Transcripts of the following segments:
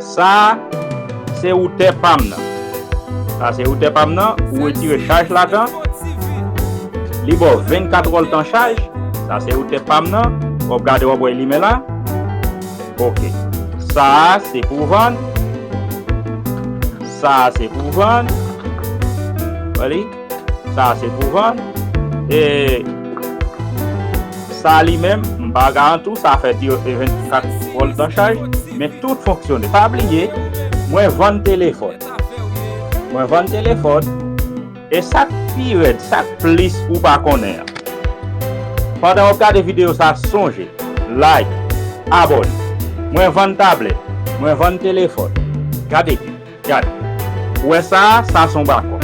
Sa se routè pam nan. Sa se routè pam nan ou retire chaj ladan li baw 24 wòl tan chaj sa se routè pam nan wap gade wap wè limen la ok sa se pou vann sa se pou vann wè li. Sa a se pou vann. E sa a li menm, m pa garanti w, sa a fè diyo e 24 vòl dan chaj, men tout fonksyone. Pa bliye, mwen vann telefòn. Mwen vann telefòn. E sa k pi rèd, sa k plis ou pa konnen an. Pandan w ap gade videyo sa a, sonje, like, abòne. Mwen vann tablèt. Mwen vann telefòn. Gade byen. Gad. Ou wè sa a? Sa a se yon bakò.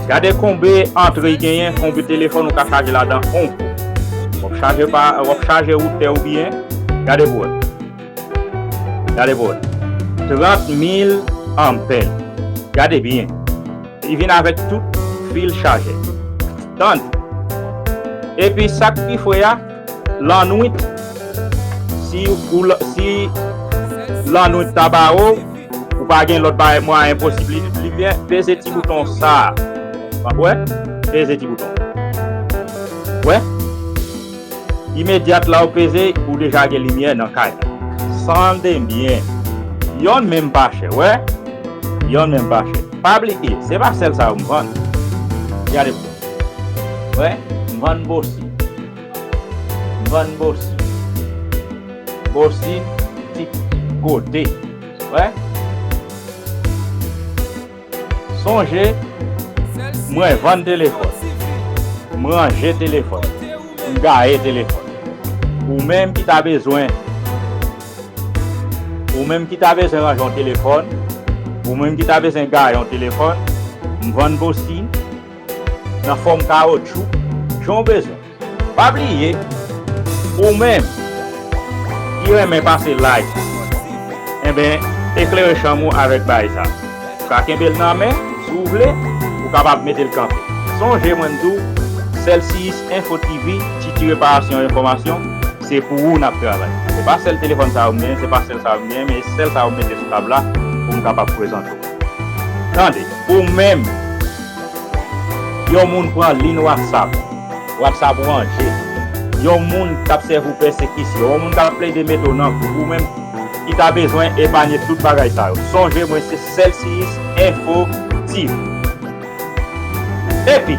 Gade konbe antre y genyen, konbe telefòn ou ka chaje ladan on kou. W ap chaje pa, w ap chaje routè ou biyè. Gade pou wè. Gade pou wè. 30 mil anpè. Gade biyè. Li vin avèk tout fil chajè. Tande. Epi sa k pi fre a. Lannwit si ou si lannwit ta ba ou ou pa gen lòt bagay mwayen posib li limyè peze ti bouton sa wap wè peze ti bouton wè imedyat la ou peze ou deja gen limyè nan kay la tande byen yonn menm pa chè wè yonn menm pa chè pa bliye se pa sèl sa yo m vann gade byen wè m vann bosi. Vann bosi. Bosi ti kote. Wè. Sonje mwen vann telefòn. M ranje telefòn. M gaye telefòn. Ou menm ki ta bezwen. Ou menm ki ta bezwen ranje yon telefòn. Ou menm ki ta bezwen gaye yon telefòn. M vann bosi. nan fòm kawotchou jan w bezwen. Pa bliye ou menm ki renmen pase lay enben eklere chanm ou avèk bay sa. Ou ka kenbe l nan men si w vle ou kapab mete l kanpe. Sonje mwen m di w Cellcius Info TV ti ti reparasyon enfòmasyon se pou ou n ap travay. Se pa sèl telefòn sa yo m genyen se pa sèl sa yo m genyen men e sèl sa yo m mete sou tab la pou m kapab prezante w. Tande ou menm. Yon moun pran lin watsap. Watsap ranje. Yon moun k ap sèvi w pèsekisyon. Yon moun k ap plede mete w nan kou. Ou menm ki ta bezwen epanye tout bagay sa yo. Sonje mwen se Celcius Info TV. Epi.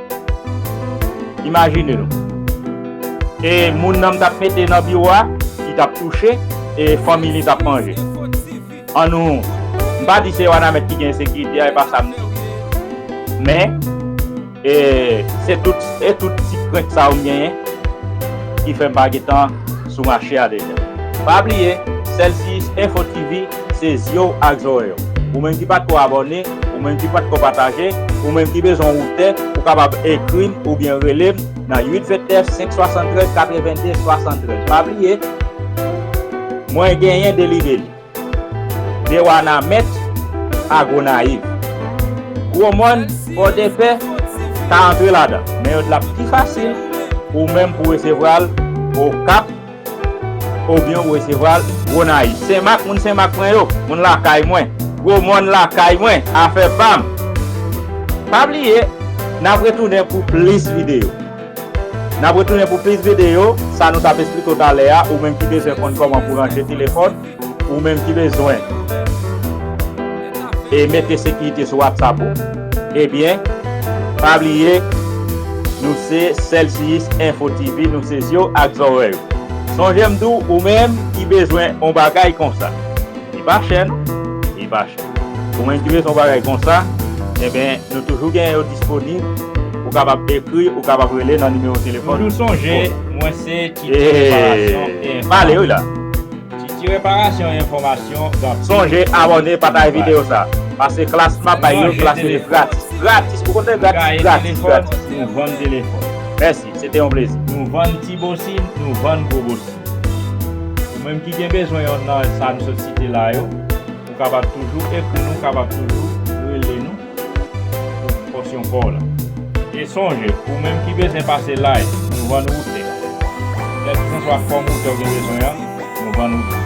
Imajine nou. E moun nan m t ap mete nan biwo a, li t ap touche e fanmi li t ap manje. An nou, m pa di se Wanament ki gen ensekirite a, e pa sa m di. Men, e se tout e tout ti krent sa yo m genyen ki fè m pa gen tan sou mache a deja. Pa bliye, Celsius Info TV. Se zye w ak zòrèy w. Ou menm ki pa t ko abòne, ou menm ki pa t ko pataje, ou menm ki bezwen yon tè, ou kapab ekri m oubyen rele m nan 8 29 573 82 73. Pa bliye, mwen genyen 2 libeli, De Wanament a Gonayiv. Gwo Mòn, Pòdepè ka antre ladan, men yo di l ap pi fasil pou ou menm pou resevwa l Okap, Ou byen ou resevwa l Gonayiv Senmak moun Senmak mwen yo Moun lakay mwen Gwo mòn lakay mwen Afè pa m Pa bliye N ap retounen pou plis videyo N ap retounen pou plis videyo Sa nou t ap esplike w talè a Ou menm ki bezwen konn kòman pou w range telefòn. Ou menm ki bezwen e mete sekirite sou WhatsApp ou ebyen pa bliye nou se Celsius Info TV nou se zye w ak zòrèy ou. Sonje m di w ou menm ki bezwen on bagay konsa li pa chè non li pa chè ou menm ki bezwen on bagay konsa ebyen nou toujou gen yo disponib ou kapab ekri ou kapab rele nan nimewo telefòn toujou sonje mwen se Titio reparasyon e enfòmasyon. Titi reparasyon enfòmasyon ganpil. Sonje abòne pataj video sa. Pase klass map bay yon klass yo gratis gratis ou konnen gratis gratis gratis. Gaye telefòn nou vann telefòn. Mèsi se te yon plezi. Nou vann ti bosin nou vann gwo bosin. Ou menm ki gen bezwen yon nan sa nou sot site la yo ou kapab toujou ekri nou kapab toujou rele nou. Pou pòsyon paw la. E sonje, ou menm ki bezwen pase lay, nou vann wout e. Kèlkisanswa fòm wout ou gen bezwen an, nou vann wout ou.